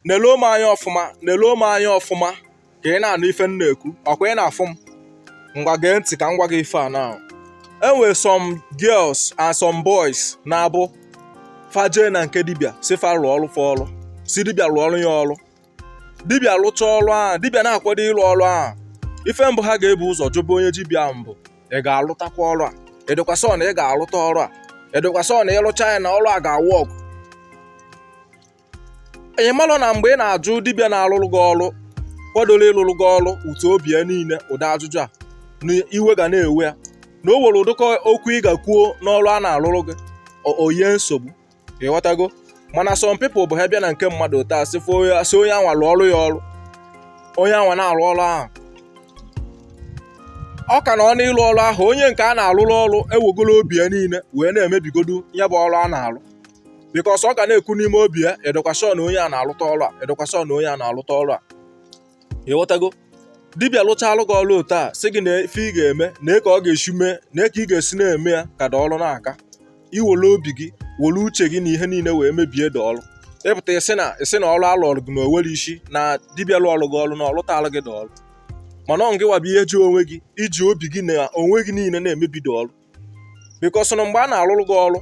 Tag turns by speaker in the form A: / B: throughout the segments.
A: neluo m anya ọfụma neluo m anya ọfụma ka ị na-anụ ife m na-ekwu ọkwa ị na-afụ m ngwa gee ntị ka m gwa gị ife a na enwere some girls and some boys na-abụ fa jee na nke dibịa sị fa rụọrụ fa ọrụ sị dibịa rụọrụ ya ọrụ dibịa lụcha ọrụ ahụ dibịa na-akwado ịlụ ọrụ ahụ ife mbụ ha ga-ebu ụzọ jụba onye dibịa bụ ị ga-alụtakwa ọrụ a ị dịkwa sure na ị ga-alụta ọrụ a ị dịkwa sure na ị lụcha ya na ọrụ a ga-awork ị malụ na mgbe ị na-ajụ dibịa na-alụrụ gị ọrụ kwadoro ịlụrụ gị ọrụ with obi ya niile ụdị ajụjụ a na iwe ga na-ewe ya na o nwere ụdịka okwu ị ga-kwuo n'ọrụ a na-alụrụ gị o yie nsogbu ịghọtago mana some people bụ ha bịa na nke mmadụ taa sị sị onye a nwa lụọrụ ya ọrụ onye a nwa na-arụ ọrụ ahụ ọ ka nọ n'ịlụ ọrụ ahụ onye nke a na-alụrụ ọrụ ewegoro obi ya niile wee na-emebigodu ya bụ ọrụ a na-alụ because ọ ga na-ekwu n'ime obi ya a dịkwa sure na onye a na-alụta ọrụ a a dịkwa sure na onye a na-alụta ọrụ a ịghọtago dibịa lụchaalụ gị ọrụ otu a sị gị na ife ị ga-eme na ka ọ ga-esi mee na ka ị ga-esi na-eme ya ka the ọrụ na-aga i were obi gị were uche gị na ihe niile wee mebie the ọrụ ị pụta ị sị na ị sị na ọrụ a lụọrụ gị na o nwero isi na dibịa lụọrụ gị ọrụ na ọ lụtaalụ gị the ọrụ mana ọ ngị nwa bụ ihe ji onwe gị i ji obi gị na onwe gị niile na-emebi the ọrụ because na mgbe a na-arụrụ gị ọrụ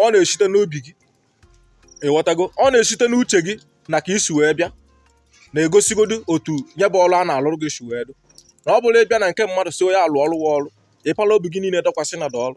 A: ọ na-esite n'obi gị ịghọtago ọ na-esite n'uche gị na ka i si wee bịa na-egosigodu otu ya bụ ọrụ a na-alụrụ gị si wee dụ na ọ bụrụ ị bịa na nke mmadụ sị onye a lụọrụ gị ọrụ ị pala obi gị niile dọkwasị na the ọrụ